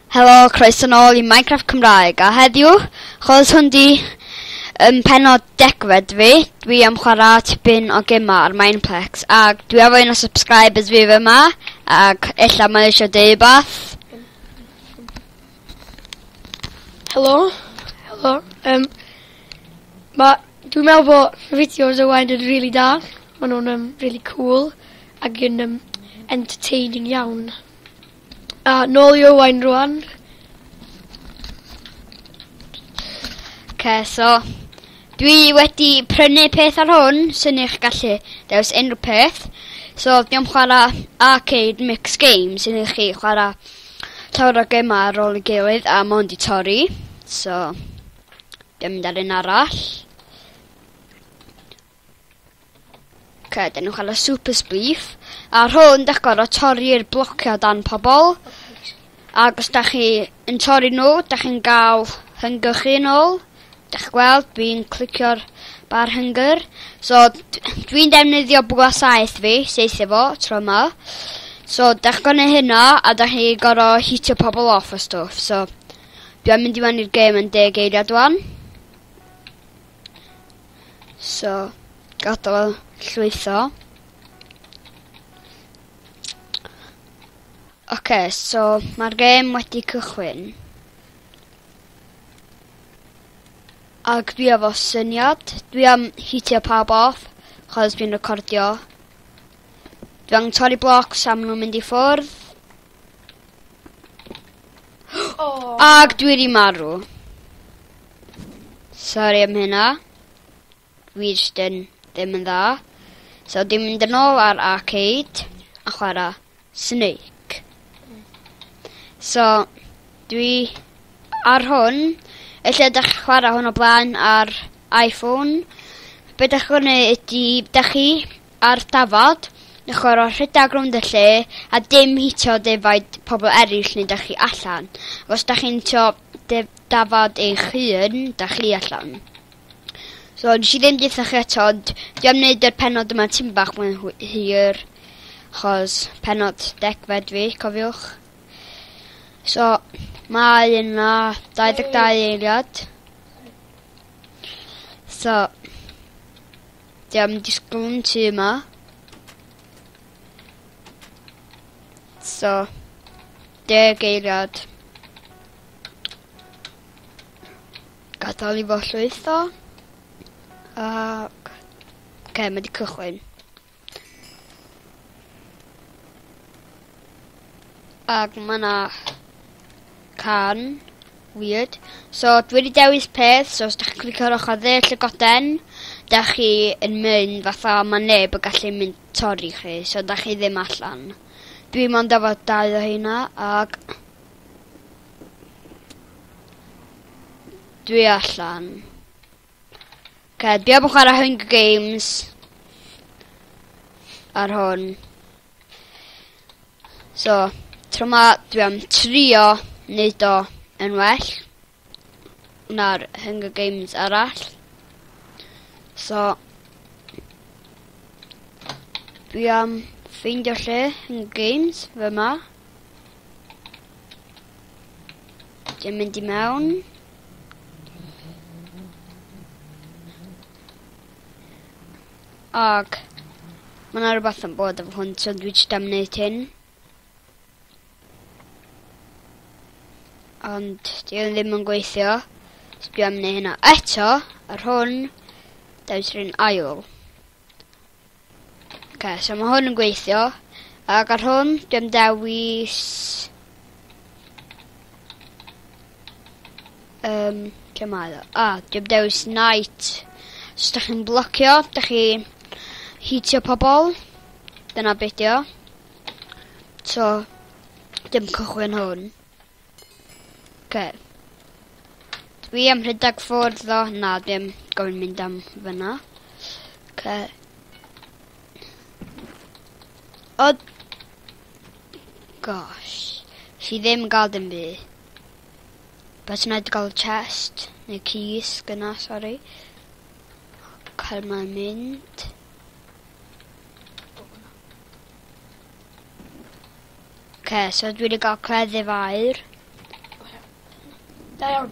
Helo, croeso nôl i Minecraft Cymraeg, a heddiw, chos hwn di um, penod degfed fi, dwi am chwarae tipyn o gema ar Mineplex, ac dwi efo un o subscribers fi fe ma, ac ella mae eisiau deud bath. Helo, helo, um, mae, dwi'n meddwl bod fideos o wain yn rili really da, maen nhw'n um, rili really cool, ac yn um, entertaining iawn. A, nôl i Owain rŵan. Okay, so, dwi wedi prynu peth ar hwn, sy'n eich gallu dewis unrhyw peth. So, dwi am chwarae arcade mix game, sy'n eich chi chwarae llawer o gemau ar ôl y gilydd a mond i torri. So, dwi'n mynd ar un arall. Oce, dyn nhw'n cael y super spliff. A rhwng dych gorfod torri'r blocio dan pobl. Ac os da chi yn torri nhw, da chi'n gael hynger chi yn ôl. Da chi gweld, dwi'n clicio'r bar hynger. So, dwi'n defnyddio bwa saeth fi, seithio fo, tro yma. So, da chi gorfod hynna, a da chi gorfod hitio pobl off o stwff. So, dwi'n mynd i mewn i'r gêm yn deg eiliad dwan. So, gadael o llwytho. Oce, okay, so mae'r gêm wedi cychwyn. Ac dwi efo syniad, dwi am hitio pawb off, chos dwi'n recordio. Dwi am torri blocs am nhw'n mynd i ffwrdd. Oh. Ac dwi wedi marw. Sorry am hynna. Dwi just yn ddim yn dda. So dim mynd yn ôl ar arcade a chwara Snake. So dwi ar hwn. Ella ydych chi chwara hwn o blaen ar iPhone. Be' dach chi'n gwneud ydi dach chi A'r dafad? Yn chwarae rhedag rownd y lle a dim hitio defaid pobl eraill neu 'dach chi allan. Ac os 'dach chi'n hitio def- dafad eich hun, 'dach chi allan. So nes i ddim deutha chi eto ond dwi am neud yr pennod yma tim bach mwy hwy- hir achos pennod degfed fi cofiwch. So mae yna 22 eiliad. So Dwi am disgwl yn tŷ yma. So, deg eiliad. Gadael i fo llwytho. Ac... Oce, okay, mae wedi cychwyn. Ag mae yna can. Weird. So, dwi wedi dewis peth, so os da chi'n clicio ar ochr dde llygoden, da chi yn mynd fatha mae neb yn gallu mynd torri chi, so da chi ddim allan. Dwi mond efo dau o hynna, ag... Dwi allan. Ok, dwi am chwarae Hunger Games ar hwn. So, tro ma dwi am trio neud o yn well na'r Hunger Games arall. So, dwi am ffeindio lle Hunger Games fe ma. Dwi'n mynd i mewn. Ag ma' 'na rwbath yn bod efo hwn so dwi jst am neud hyn. Ond 'di o ddim yn gweithio. So dwi am neu' hynna eto, ar hwn, dewis run ail. Oce, so ma' hwn yn gweithio. Ag ar hwn, dwi am dewis... Um, lle mae o? Ah, dim dewis night. Os da chi'n blocio, da chi hitio pobol. Dyna beth o. So, dim cychwyn hwn. Okay. Dwi am rhedeg ffwrdd o, na, dim gofyn mynd am fyna. Okay. O... Gosh. Si ddim yn gael dim byd. Beth sy'n rhaid gael chest, neu keys, gyna, sori. Cael mae'n mynd. Ok, so dwi wedi gael cleddyf air. Da iawn.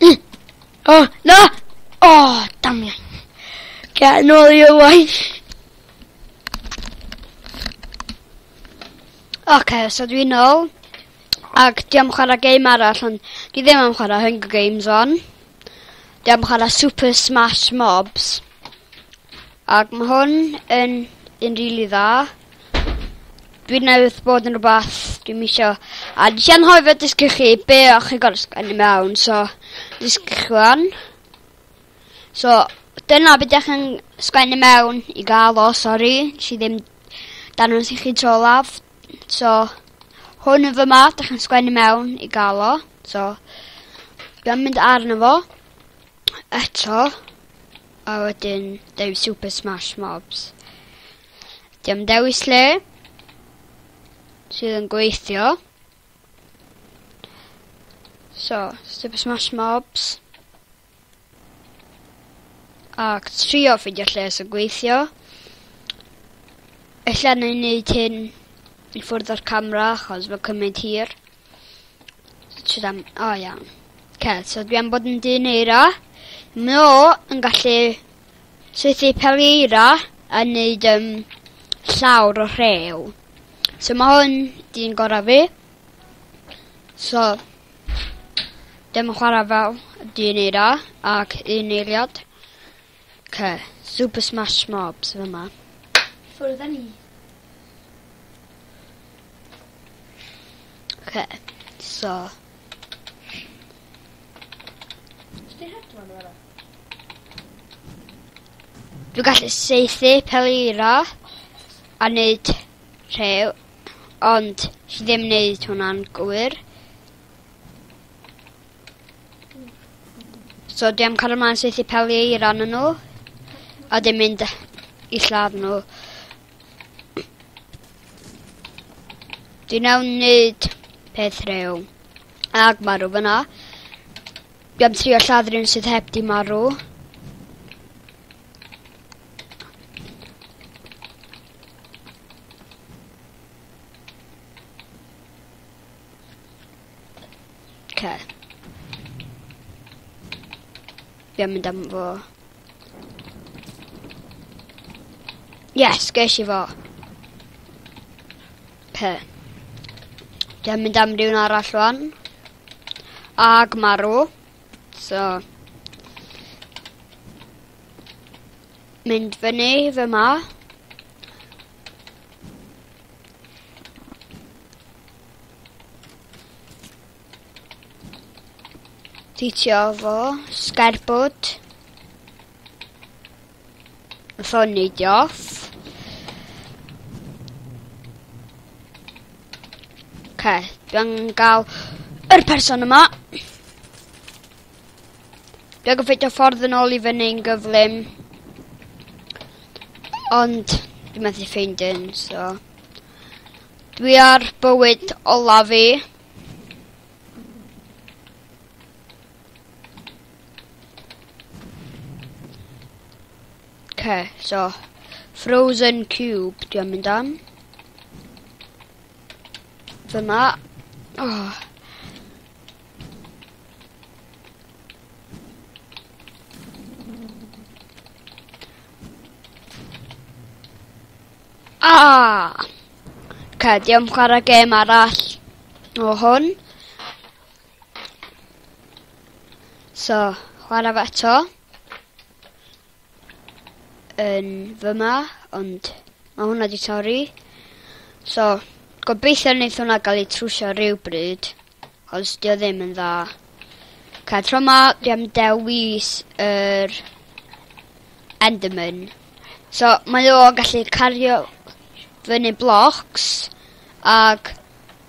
Mm. Oh, na! Oh, damiau. Get yn ôl i y waith. Oce, okay, so dwi'n ôl. Ac di am chwarae game arall, ond di ddim am chwarae Hunger Games on. Di am chwarae Super Smash Mobs. Ac mae hwn yn, yn rili really dda. Dwi newydd bod yn rwbath dwi'm isio. A nes i anghofio dysgu chi be' o' chi gor'o' sgwennu mewn so dysgu chi ŵan. So dyna be' 'dych yn sgwennu mewn i ga'l o sori nes i ddim dangos i chi tro olaf. So hwn yn fyma 'dych yn sgwennu mewn i ga'l o. So dwi am mynd arno fo eto a wedyn deud Super Smash Mobs. Diom dewis lle sydd yn gweithio. So, Super Smash Mobs. Ac trio ffeindio lle sy'n gweithio. Ella na i wneud hyn i ffwrdd o'r camera, achos mae'n cymryd hir. Tyd am... O, iawn. Ce, so dwi am bod yn dyn eira. No, yn gallu City Pereira yn neud um, llawr o rhew. So mae hwn di'n gorau fi. So, dim yn chwarae fel di'n ei ra, ac un eiliad. Ce, Super Smash Mobs fy yma. Ffwrdd â ni. Ce, so... Ysdi hedfan yma? Dwi'n gallu seithi pelira a neud rhew, ond chi ddim neud hwnna'n gywir. So dwi am cael ymlaen seithi pelira yn nhw, a dim mynd i lladd nhw. Dwi'n iawn neud peth rhew. Ag marw fyna. Dwi am trio lladd rhywun sydd heb di marw. Okay. Fi am mynd am fo. Yes, ges i fo. Oce. Dwi'n mynd am rhywun arall rwan. Ag marw. So. Mynd fyny fy ma. Titio fo. Sgerbwd. Sonny Joss. Okay, dwi'n gael yr person yma. Dwi'n gyffeithio ffordd yn ôl i fyny'n gyflym. Ond dwi'n methu ffeind yn, so... Dwi ar bywyd olaf i. Okay, so Frozen Cube dwi'n mynd am. Dyma. Oh. Ah! Okay, diolch chwarae gêm arall o hwn. So, chwarae fe eto. Yn fyma, ond mae hwnna di torri. So, gobeithio wneud hwnna gael ei trwsio rhywbryd, os di o ddim yn dda. Ca, tro ma, di am dewis yr Enderman. So, mae o gallu cario fyny blocs, ac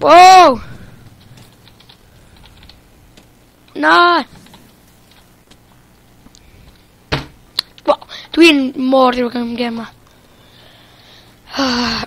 Wow! Na! Wow, dwi'n mor rhywbeth am gem ma. Ah.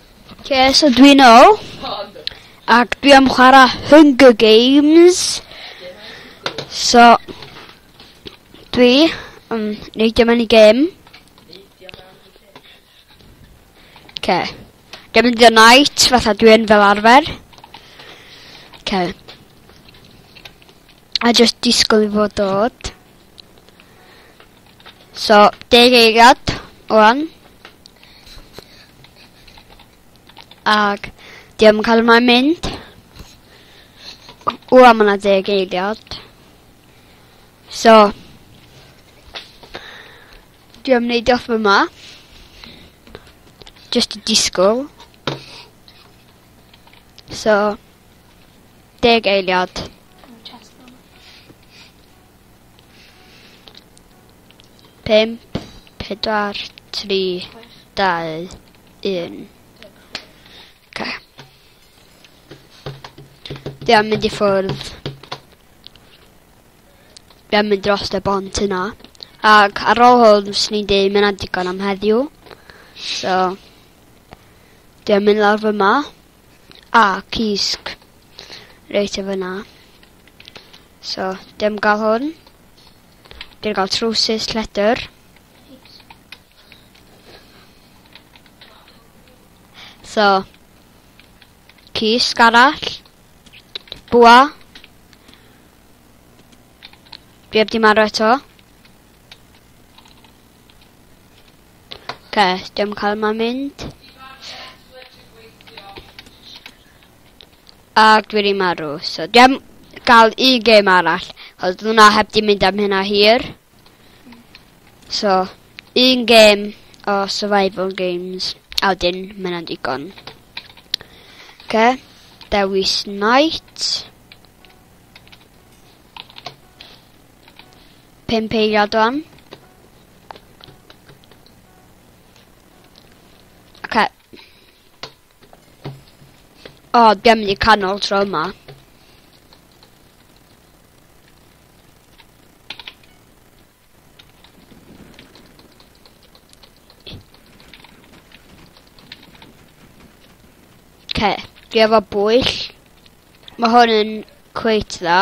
Oce, so dwi nôl. Ac dwi am chwarae Hunger Games. So, dwi yn neidio mewn i gêm. Oce. Dwi'n mynd i'r night, fatha dwi'n fel arfer. Oce. A just disgwyl i fod dod. So, deg eiliad o'n. Ac, di am cael yma'n mynd. O, am yna deg eiliad. So, di am neud off yma. Just a disgwyl. So, deg eiliad. 5, 4, 3, 2, 1. Okay. Dwi am mynd i ffwrdd. Dwi am mynd dros y bont yna. Ac ar ôl hwn, fes ni'n dweud mae'n adigon am heddiw. So, dwi am mynd lawr fyma. A, cysg. Reit, efo na. So, dim gael hwn. Dim gael trwsus lledr. So, cysg arall. Bwa. Dwi heb di marw eto. Oce, dim cael yma mynd. Ac dwi wedi marw, so dim gael un gêm arall. Oedd hwnna heb di mynd am hynna hir. So, un gêm o survival games, a wedyn mae hynna'n digon. Oce, dewis night. Pimp eiliad o'n. Okay. O, oh, ddim wedi canol tro yma. Okay, dwi efo bwyll. Mae hwn yn cweit dda.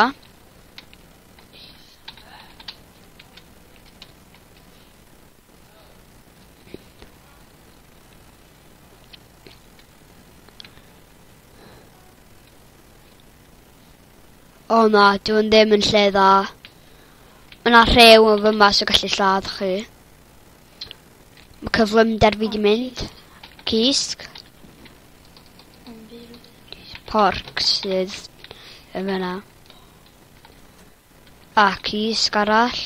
O na, dwi'n ddim yn lle dda. Mae yna rhew yn fy mas o gallu lladd chi. Mae cyflymder fi di mynd. Cysg. Porc sydd yn fyna. A cys garall.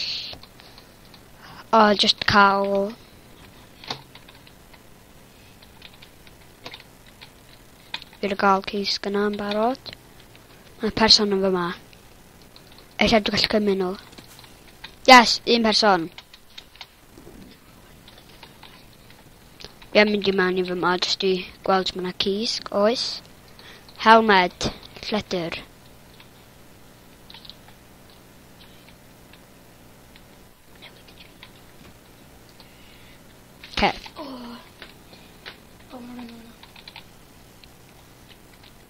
O, just cawl. Fi'n gael cys gyna yn barod. Mae person yn fyma. Eisiau dwi'n gallu cymryd nhw. Yes, un person. Ie, mynd i mewn i fy mod jyst i gweld mae yna cysg, oes. Helmed, lletr. Okay. Oh. Oh,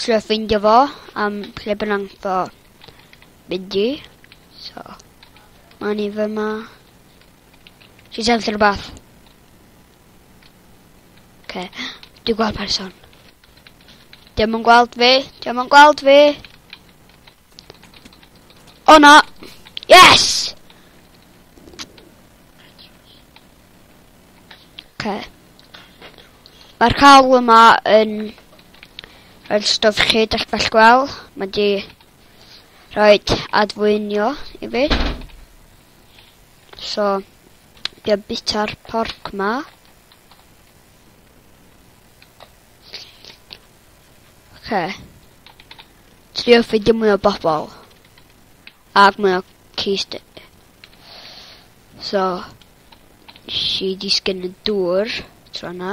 trio ffeindio fo am lle bynnag fo mynd i. So, mae ni fy ma. Ti'n sefyll ar rhywbeth? Okay. Dwi'n gweld person. Dim yn gweld fi, dim yn gweld fi. O na! Yes! Oce. Mae'r cawl yma yn yr stwff chi dych bell gweld. Mae di rhoi adfwynio i fi. So, di o bita'r porc ma. Oce. Okay. Trio ffidio mwy o bobl. Ac mae o cist So Nes i disgyn y dŵr Tro na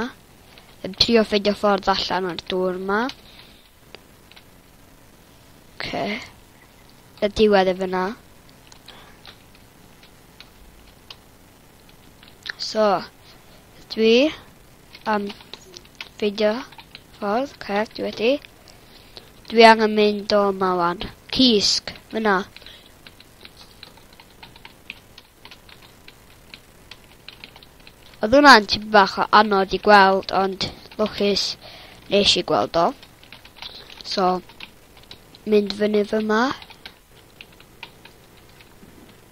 Yn trio ffeindio ffordd allan o'r dŵr ma Oce Y diwedd e fyna So Dwi Am ffeindio ffordd Oce dwi wedi Dwi angen mynd o yma wan. Cysg, fyna. Oedd hwnna'n tipyn bach o anodd i gweld, ond lwcus nes i gweld o. So, mynd fyny fy ma.